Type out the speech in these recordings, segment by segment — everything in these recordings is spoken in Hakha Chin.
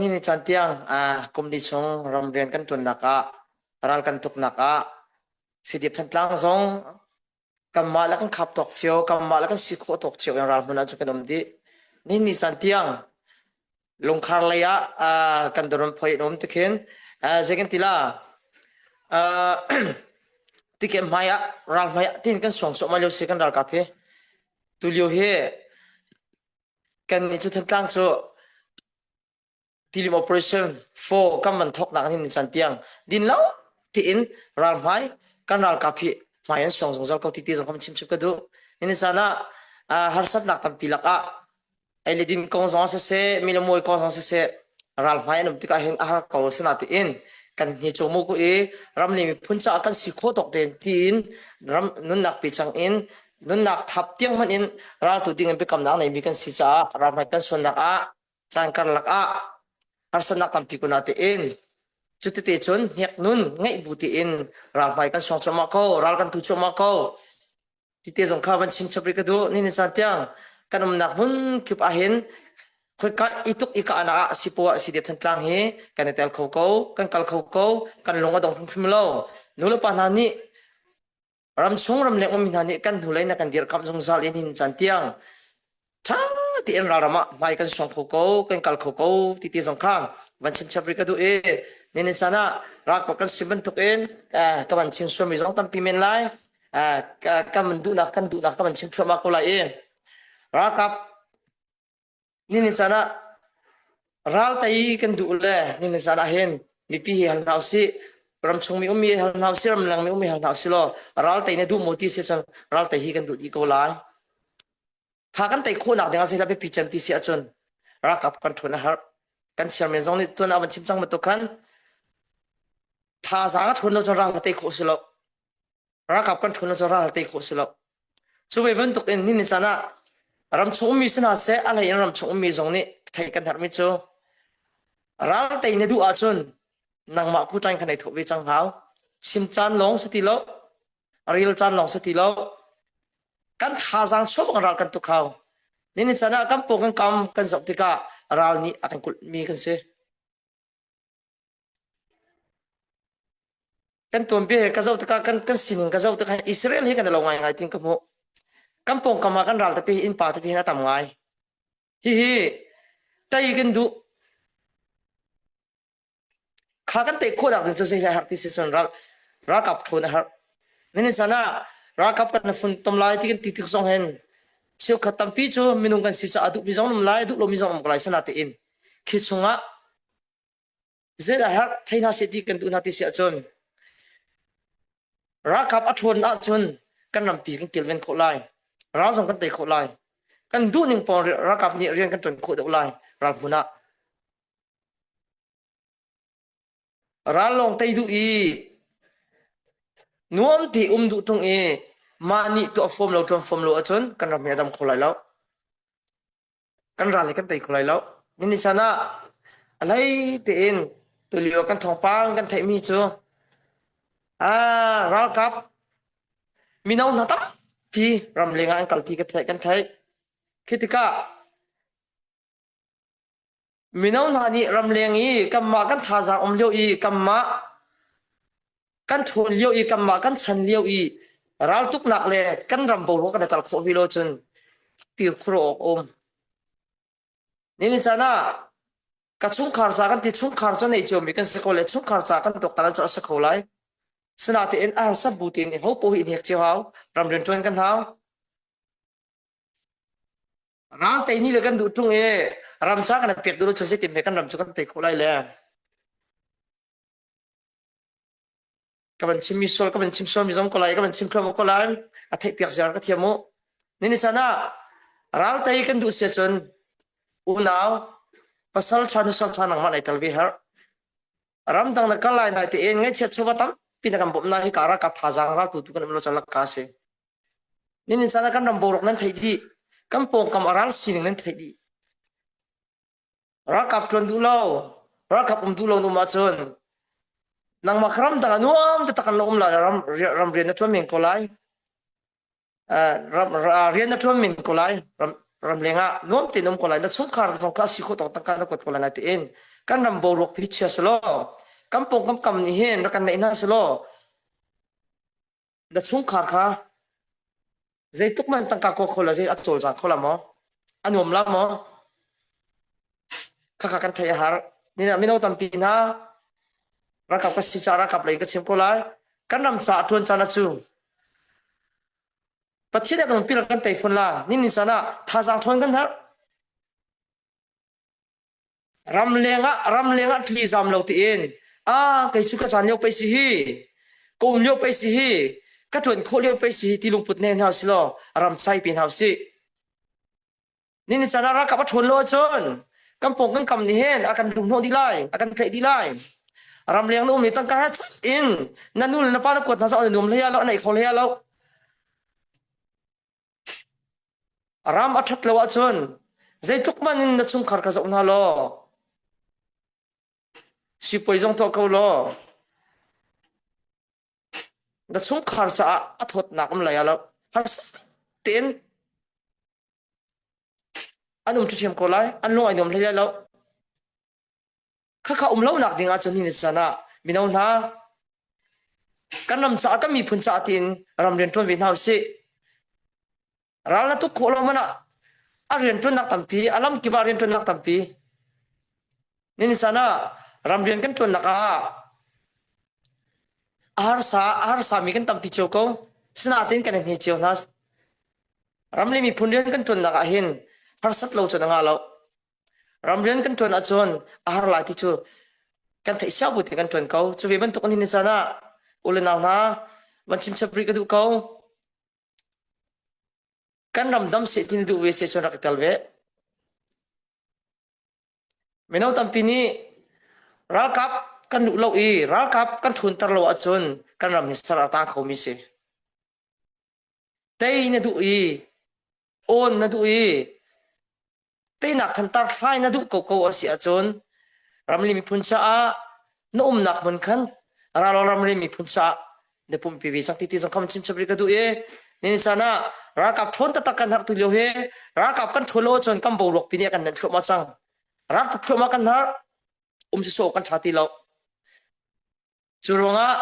Ni caan tiang kum li chung ram rian kan ṭuannak ah ral kan tuknak ah Sidiap Thantlang zong kanmah le kan khap tawk cio kanmah le kan si khawh tawk cio in ralhmun ah cu kan um dih. Ni ni caan tiang lungkhar lei ah kan doron phoi in um tikhin zei kan tila tiket hmai ah ral hmai ah tin kan suang suah mai lio si kan ralkap hi tulio hi Kan i cu tlang cu tilim operation four kan man thawknak an hin chan tiang din lo tiin ralhmai kan ralkap hi hmai an suang zungzal ko titi zong kam chimchip ka duh. Nini chan ah ah, harsatnak tampi lakah ei le din kong zong ah siseh, mi le mui kong zong siseh, ralhmai an um tikah hin a har ko sina tiin kan ni cumu ku i ram le miphun caah kan si khawh tawk tein tiin ram nunnak pi chang in Nunnak thap tiang hmanh in raltu dingin biakamnak neimi kan si caah ramhrat kan suannak ah caan karlak ah harsatnak tampi kun ah tein cutete cun hnek nun ngeih bu tein ramhmai kan suang cuahmah ko ral kan tu cuahmah ko tite zong kha van chin chapri ka du ni ni san tiang kan umnak hmun kip ahin khoika ituk ika ana ah sipo ah sidep than tlang hi kan tel kho ko kan kal kho ko kan lung adong hrim hrim lo nu le pa hna nih Ramchung ramleng ummi hna nih kan hnulei na kan dirkamh zungzal in hin caan tiang ṭha tein ralram ah hmai kan suang kho ko, kan kal kho ko ti ti zong kha van chimchap rih ka duh i nihin caan ah ralkap kan si bantuk in uh, ka van chim suami zong tampi men lai. Uh, ka, kan duhnak kan duhnak ka van chim thluahmah ko lai i ralkap Nimin caan ah raltei kan duh le nimin caan ah hin mipi hi hal hna usih. Ramchung mi ummi hal hna usih, ramleng mi ummi hal hna usih law raltei na duh maw ti si cun raltei hi kan duh dih ko lai. Tha kan tei khawhnak ding ah zeidah biapi can ti si ahcun ralkap kan ṭhun a har. Kan siarmen zong nih tuan a van chim cang bantuk khan thazaang a ṭhun lo cun ral a tei khawh si lo. ralkap kan ṭhuna cu ral te khawh si lo. Cu ve bantuk in nihin caan ah ram chung ummi si hna seh, a hlei in ram chung ummi zong nih thei kan herhmi cu ral tei na duh ahcun nangmah pu ṭain kan ei thawh ve cang hau. Chim caan lawng si ti lo, ril caan lawng si ti lo, kan thazaang chuah bang ral kan tuk hau. Nihin caan ah kan paw kan kam kan zoh tikah ral nih a kan kulhmi kan si. Kan tuanbia he ka zoh tikah kan, kan sining ka zoh tikah Israel hi kan i lo ngaingai ting ka hmuh. Kan pawngkam ah kan ral tete hi innpa tete hin a tam ngai. Hihi tei kan duh. Kha kan tei khawh nak ding cu zei lai har ti si cun ral ralkap thun a har. Nini sanah ralkap kan fun tom lai ti kan ti tik zong hen cheu khat tampi cu minung kan si cu a duh mi zong um lai duh lo mi zong um ko lai sana te in Thli chungah zei a herh thei hna seh ti kan duh hna ti si ahcun ralkap a ṭhawn ahcun kan rampi kan kilven khawh lai. Ral zong kan tei khawh lai. Kan duhning pawng ralkap nih rian kan ṭuan khawh deuh lai ral hmun ah. Ral lawng tei duh i nuam te um duh ṭung i mah nih tuah fawm lo, ṭuan fawm lo ahcun kan ram hi a dam kho lai lo. kan ral hi kan tei kho lai lo. Ni chan ah a hlei tein tulio kan thawngpang kan theihmi cu ah ralkap mino hna tampi ramleng ah an kal ti kan theih kan theih. Khi tikah Mino hna nih ramleng i kanmah kan thazaang um lio i kanmah kan ṭhawn lio i kanmah kan chan lio i raltuknak le kan ram boruak kan i tar khawh ve lo cun kir khur awk a um. Nihin caan ah ka chungkhar ca kan ti chungkhar cu nei ciomi kan si ko le chungkhar ca kan tuaktan cu a si kho lai. Sinatein a harsat bu tein hopoh hi in hek cio hau ramrian ṭuan kan hau. Ral tei ni le kan duh tung e ram cha kan pek duh lo chun zeitim he kan ram chu kan tei khawh lai le ka van chim mi sual ka van chim sual mi zong ko lai ka van chim khlo ko lai a theih piak ziar ka thiam u ni ni chan ah ral tei kan duh sia chun unau pasal tha nu sang tha nang ma lai tal vi har ram dang na kal lai nai te en ngai che chuwa tam pin kan bom na hi kara ka tha jang ral tu tu kan lo chalak ka se Nan inn caan ah kan ram boruak nan theih dih. Kan pawngkam a ral sining nan theih dih. Ralkap ṭuan duh lo, ralkap um duh lo na um ahcun nangmah ka ram dang ah nuam taktak kan lo um lai. Ram, ram rian na ṭuan men ko lai. Uh, ram, uh, rian na ṭuan men ko lai. Ram, ram leng ah nuam tein um ko lai. Na chungkhar zong kha a si khawh tawk tangka na kuat ko lai lai tiin kan ram boruak hi chia selaw kan pawngkam kam nih hin rak kan neih hna selaw na chungkhar kha zeitluk man tangka kua kho la zei a cawlza kho la maw a nuam la maw khakha kan thei a har nina mino tampi hna ralkap ka si ca ralkap lei ka chim ko lai kan ram ca a tuan cana cu pathian dang pila kan tei fun la nin ni cana thazang thon kan har Ramleng ah ramleng ah thli zam lo tiin a kei cu ka caan lio pei si hi kum lio pei si hi ka ṭuan khawh lio pei si hi ti lungput ne hna silaw ram sai pe hna sih. Ni ni caan ah rakap a ṭhuan lo ahcun kan pawng kan kam nih hin a kan hlumhnawh dih lai, a kan ṭheh dih lai. Ramleng na um i tangka he chat in na nu le na pa na kuat hna zong an i nuam hlei ah lo, an ei kho hlei ah lo. A ram a ṭhat lo ahcun zeitluk hmanh in na chungkhar ka zoh hna law sipuai zong tuah ko law na chungkhar caah a thawtnak um lai ah lo harsa tein an um ṭhithiam ko lai an lung ai nuam hlei lai lo Khakha um lonak ding ahcun hi ni can ah mino hna kan ram caah kan miphun caah tiin ram rian ṭuan ve hna u sih. Ral na tuk khawh lo man ah a rian ṭuannak tampi, a lam kip ah rian ṭuannak tampi. Ni can ah ram rian kan ṭuannak ah a harsa, a harsa mi kan tampi cio ko. Sinain kan he cio hna. Ram le miphun rian kan ṭuannak ah hin harsat lo cun a nga lo. Ram rian kan ṭuan ahcun a har lai ti cu kan theih siao bu te kan ṭuan ko. Cu ve bantuk an hin zan ah u le nau hna van chimchap rih ka duh ko. Kan ramdam seh ti na duh ve se cun rak i tel ve. Mino tampi nih ralkap kan duh lo i ralkap kan ṭhunter lo ahcun kan ram hi ser a ta khomi si. Tei na duh i Awn na duh i teinak thantar fai na duh ko ko a si ahcun ramri miphun caah na umnak hmun khan ralol ramri miphun caah na pumpi ve cang ti ti zong kham chim chap rih ka duh i nini san ah ralkap ṭhawn taktak kan harh tu lio hi ralkap kan ṭhawn lo ahcun kan boruak pin i kan nenh thluahmah cang ralkap thluahmah kan har um sawsawh kan ṭha ti lo cu ruangah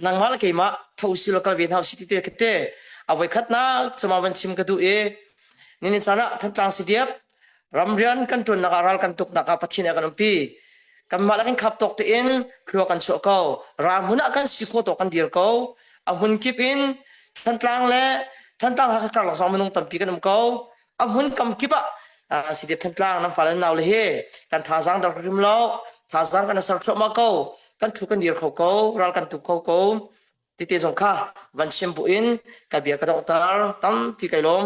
nangmah le keimah tho si lo kal ve hna usih ti ka te avoi khat nak chama van chim ka duh i nini caan ah thantlang si diap ram rian kan tuan nak ah ral kan tuk nak ah pathin ah kan umpi kan mah la kan khap tok te in khua kan chuah ko ram hun ah kan si ko to kan dir ko a hun kip in thantlang le thantlang ha ka kar lak zong minung tampi kan um ko a hmun kam kip ah si dep than tlang nan fale nau le he kan thazang dal rim lo thazang kan ser thlo ma ko kan thu kan dir kho ko ral kan tu kho ko tite zong kha van shem bu in ka bia ka dong tar tam pi kai lom